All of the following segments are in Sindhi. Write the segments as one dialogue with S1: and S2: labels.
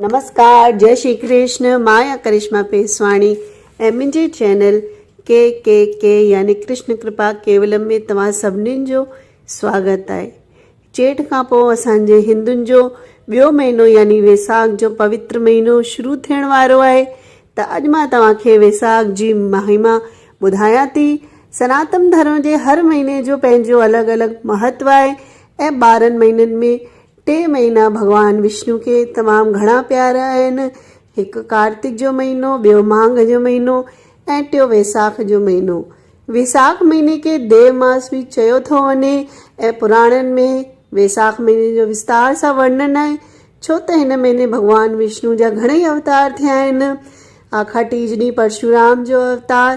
S1: نمسڪار جئي شري ڪرشن مان آهيان ڪرشما پيسواڻي ۽ منهنجي چينل ڪي ڪي ڪي يعني ڪرشن ڪرپا ڪيولم ۾ توهان سڀني جو سواگت آهي چيٽ کان پوء اسان جي هندن جو ٻيو مهينو يعني ويساک جو پوتر مهينو شروع ٿيڻ وارو آهي ته اڄ مان توهان کي ويساک جي مهيما ٻڌايان ٿي سناتن ڌرم جي هر مهيني جو پنهنجو الڳ الڳ مهتو آهي ۽ ٻارهن مهينن ۾ ٽي مهينا ڀڳوان وشنو کي تمام گهڻا پيارا آهن. هڪ ڪارتڪ جو مهينو، ٻيو ماگهه جو مهينو ۽ ٽيون ويساک جو مهينو. ويساک مهيني کي ديو ماس به چيو ٿو وڃي ۽ پراڻن ۾ ويساک مهيني جو وستار سان ورنن آهي ڇو ته هن مهيني ڀڳوان وشنو جا گهڻئي اوتار ٿيا آهن. آکاٽيج ڏينهن پرشورام جو اوتار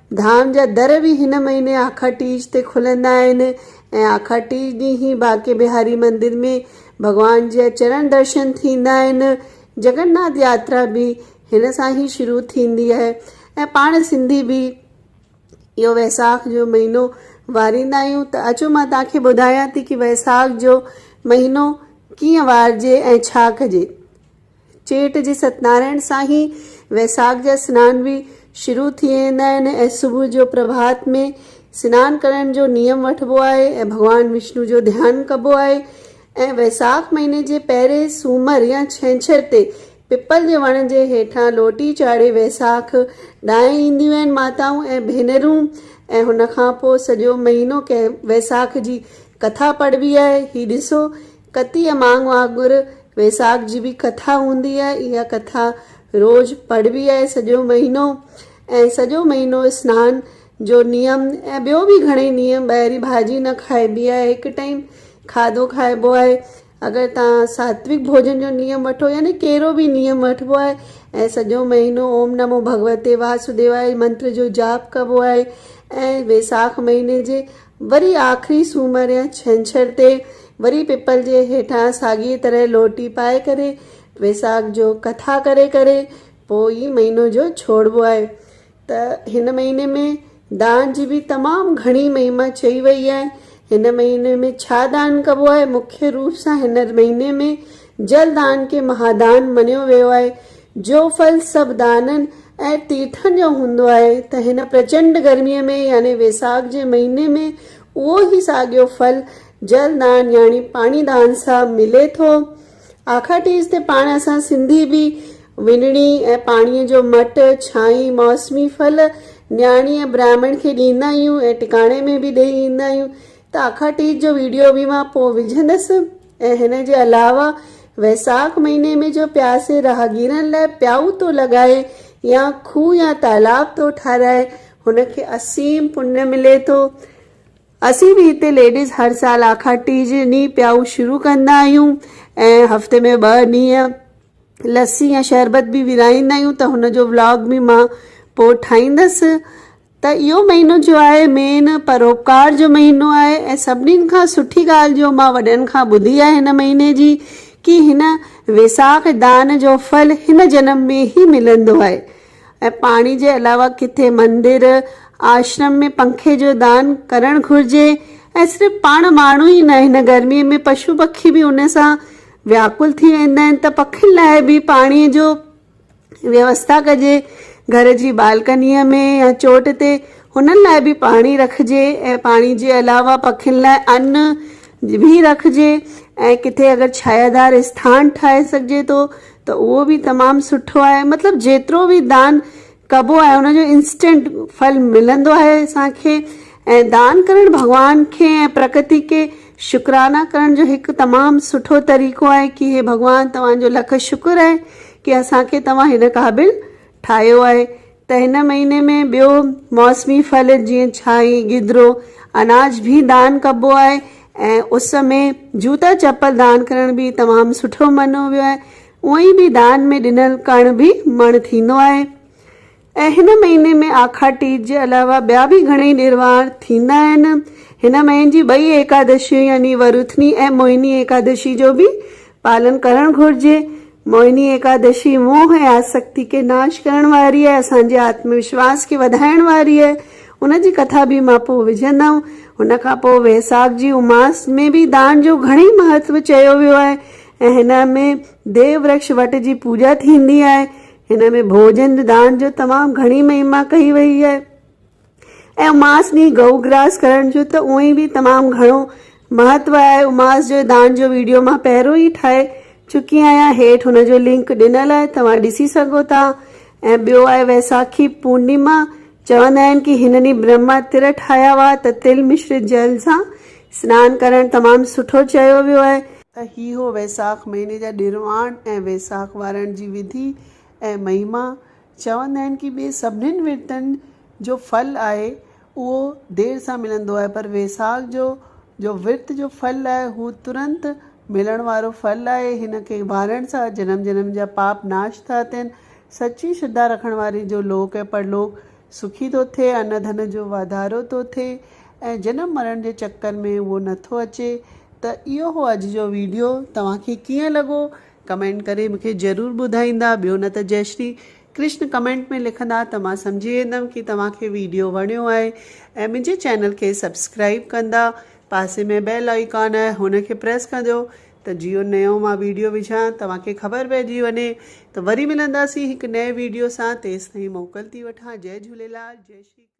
S1: ڌام جا در به هن مهيني آخر ٽيج تي کلندا آهن ۽ آخر ٽيج ڏينهن هي بانڪي بهاري مندر ۾ ڀڳوان جا چرڻ درشن ٿيندا آهن. جگن ناٿ ياترا به هن سان هي شروع ٿيندي آهي ۽ پاڻ سنڌي به اهو ويساک جو مهينو واريندا آهيون ته اچو مان توهان کي ٻڌايان ٿي ڪي ويساک جو مهينو ڪيئن وارجي ۽ ڇا ڪجي. چيٽ جي ستنارائڻ سان ئي ويساک جا سنان به شروع ٿي ويندا آهن ۽ صبح جو پرڀات ۾ سنان ڪرڻ جو نيم وٺبو آهي ۽ ڀڳوان وشنو جو ڌيان ڪبو آهي ۽ ويساک مهيني جي پهرين سومر يا ڇنڇر تي پپل جي وڻ جي هيٺان لوٽي چاڙهي ويساک ڏانهن اينديون آهن ماتائون ۽ ڀينرون ۽ هن کان پوء سڄو مهينو ڪنهن ويساک جي ڪٿا پڙهبي آهي هي ڏسو ڪتيء ماڳ وانگر ويساک جي به ڪٿا هوندي آهي. اها ڪٿا روز پڙهبي آهي سڄو مهينو ۽ سڄو مهينو سنان جو نيم ۽ ٻيو به گهڻي نيم ٻاهرين ڀاڄي نه کائبي آهي هڪ ٽائيم کاڌو کائبو آهي اگر توهان ساتويڪ ڀوڄن جو نيم وٺو يعني ڪهڙو به نيم وٺبو آهي ۽ سڄو مهينو اوم نمو ڀڳوتي واسوديواي منتر جو جاپ ڪبو آهي ۽ ويساک مهيني جي وري آخري سومر يا ڇنڇر تي وري پپل جي هيٺان ساڳيء طرح لوٽي پائي ڪري ويساک جو ڪٿا ڪري ڪري پوء ئي مهينو جو ڇوڙبو آهي ته هن مهيني ۾ دان جي به تمام گهڻي مهما چئي ويئي آهي. هن مهيني ۾ ڇا دان ڪبو آهي؟ مکيه روپ سان هن مهيني ۾ جل دان کي مهادان مڃيو ويو آهي. جو ڦل سڀ دانن ۽ تيرٿن جو هوندو آهي ته هن پرچنڊ گرميء ۾ يعني ويساک جي مهيني ۾ اهو ئي ساڳيو ڦل جل دان يعني پاڻي دان سان ملي ٿو. آکا ٽيز تي پاڻ اسان سنڌي به وڃڻي ۽ پاڻيء جو مٽ، ڇانئي، موسمي ڦل نياڻي ۽ براهمڻ کي ڏيندا آهيون ۽ ٽڪاڻي ۾ به ڏيئي ايندا آهيون ته آکا ٽيز جو ويڊيو به مان پوء وجهندس. ۽ هن جي علاوه ويساک مهيني ۾ جو پياسي راهگيرن لاء پيائو ٿو لڳائي يا کوهه يا تالاب ٿو ٺهرائي هن کي اسيم پڃ ملي ٿو. اسين به هتي ليڊيز هر سال آکاڙ ٽي جي ڏينهن پيائو شروع ڪندا آهيون ۽ هفتي ۾ ٻه ڏينهن لسي يا شربت به ورهائيندا آهيون ته هن جو ولاگ به مان پوء ٺاهيندس ته اهو مهينو جو آهي مين پروپڪار جو مهينو آهي ۽ سڀني کان سٺي ڳالهه جو مان وڏن کان ٻڌي آهي هن مهيني جي ڪي هن ويساک دان جو ڦل هن جنم ۾ ئي ملندو آهي ۽ پاڻي جي علاوه ڪٿي مندر آشرم ۾ پنکي جو دان ڪرڻ گهرجي ۽ صرف پاڻ ماڻهو ئي نه هن گرمي ۾ پشو پکي به ان سان وياڪل ٿي ويندا آهن ته پکين لاء به پاڻي جو ويوسٿا ڪجي، گهر جي بالڪنيء ۾ يا چوٽ تي هنن لاء به پاڻي رکجي ۽ پاڻي جي علاوه پکين لاء ان به رکجي ۽ ڪٿي اگر ڇايادار اسٿان ٺاهي سگهجي ٿو ته اهو به تمام سٺو آهي مطلب جيترو به دان ڪبو آهي ان جو انسٽنٽ ڦل ملندو آهي اسان کي ۽ دان ڪرڻ ڀڳوان کي ۽ پرڪتي کي شڪرانه ڪرڻ جو هڪ تمام سٺو طريقو آهي ڪي هي ڀڳوان توهان جو لک شڪر آهي ڪي اسان کي توهان هن قابل ٺاهيو آهي ته هن مهيني ۾ ٻيو موسمي ڦل جيئن ڇاهي گدرو اناج به دان ڪبو آهي ۽ اس ۾ جوتا چپل دان ڪرڻ به تمام سٺو مڃيو ويو آهي اونئي به دان ۾ ڏنل ڪڻ به مڻ ٿيندو آهي ۽ هن مهيني ۾ آکاڙ ٽيج جي علاوه ٻيا به گهڻئي ڏيروار ٿيندا آهن. هن مهين جي ٻئي ايڪادشيون يعني وروٿني ۽ موهني ايڪادشي جو به پالن ڪرڻ گهرجي. موهني ايڪادشي موهه ۽ آسڪتي کي ناش ڪرڻ واري آهي، اسان جي آتم وشواس کي وڌائڻ واري آهي. ان جي ڪٿا به مان پوء وجهندم. هن کان پوء ويساک جي اماس ۾ به دان جو گهڻئي مهتو چيو ويو آهي ۽ هن ۾ ديو ورڪش وٽ جي پوڄا ٿيندي آهي. هن ۾ ڀوڄن دان جو تمام گهڻي مهما ڪئي وئي آهي ۽ اماس ڏينهن گئو گراس ڪرڻ جو ته اونئي به تمام گهڻو مهتو آهي. اماس جو دان جو ويڊيو مان پهريون ئي ٺاهي چڪي آهيان هيٺ هن جو لنڪ ڏنل آهي توهان ڏسي سگهو ٿا ۽ ٻيو آهي ويساکي پورنيما چوندا آهن ڪي هن ڏينهن برهما تر ٺاهيا هئا ته تل مشرت جل سان سنان ڪرڻ تمام سٺو چيو ويو آهي. ته هي هو ويساک مهيني جا ڏرواڻ ۽ ويساک وارڻ جي وڌي ۽ مهما. چوندا آهن ڪي ٻي سڀنين ورتن جو ڦل آهي اهو دير سان ملندو آهي پر ويساک جو جو ورت جو ڦل آهي هو ترنت ملڻ وارو ڦل آهي هن کي وارڻ سان جنم جنم جا پاپ ناش ٿا ٿين سچي شرڌا رکڻ واري جو لوڪ ۽ پرلوڪ سکي ٿو ٿئي، ان ڌن جو واڌارو ٿو ٿئي ۽ جنم مرڻ جي چڪر ۾ اهو نه ٿو اچي ته اهو هو اڄ جو ويڊيو توهان کي ڪيئن لڳو ڪمينٽ ڪري مون کي ضرور ٻڌائيندا ٻيو نه ته جئي شري ڪرشن ڪمينٽ ۾ لکندا ته مان سمجهي ويندم ڪي توهان کي ويڊيو وڻيو آهي ۽ منهنجي چينل کي سبسڪرائيب ڪندا پاسي ۾ بيل آئيڪان آهي هن کي پريس ڪنديو ته جيو نيو مان ويڊيو وجهان توهان کي خبر پئجي وڃي ته وري ملنداسين هڪ نئين ويڊيو سان تيستائين موڪل ٿي وٺان جئي جهوليلال جئي شري ڪرشن.